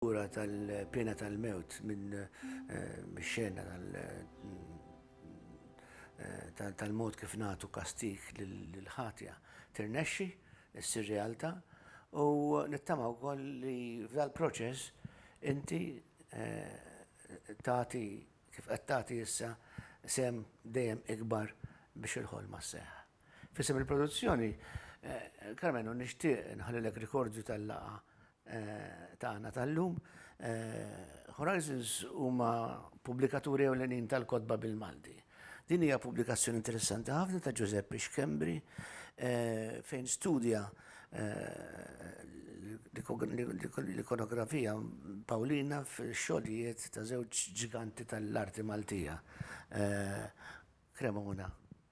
Ura tal-piena tal-mewt minn mix-xena tal-mod kif nagħtu kastig lill-ħatja tirnexxi ssir realtà u nittama wkoll li f'dal-proċess inti tagħti kif qed tagħti issa sehem dejjem ikbar biex il-ħolma sseħħ. F'isem il-produzzjoni, Karmenu nixtieq inħallilek rikordju tal-laqgħa tagħna tal-lum. Horizons huma pubblikaturi ewlenin tal-kotba bil-Malti. Din hija pubblikazzjoni interessanti ħafna ta' Ġużeppi Schembri fejn studja l-ikonografija Pawlina fix-xogħlijiet ta' żewġ ġiganti tal-arti Maltija, Cremona.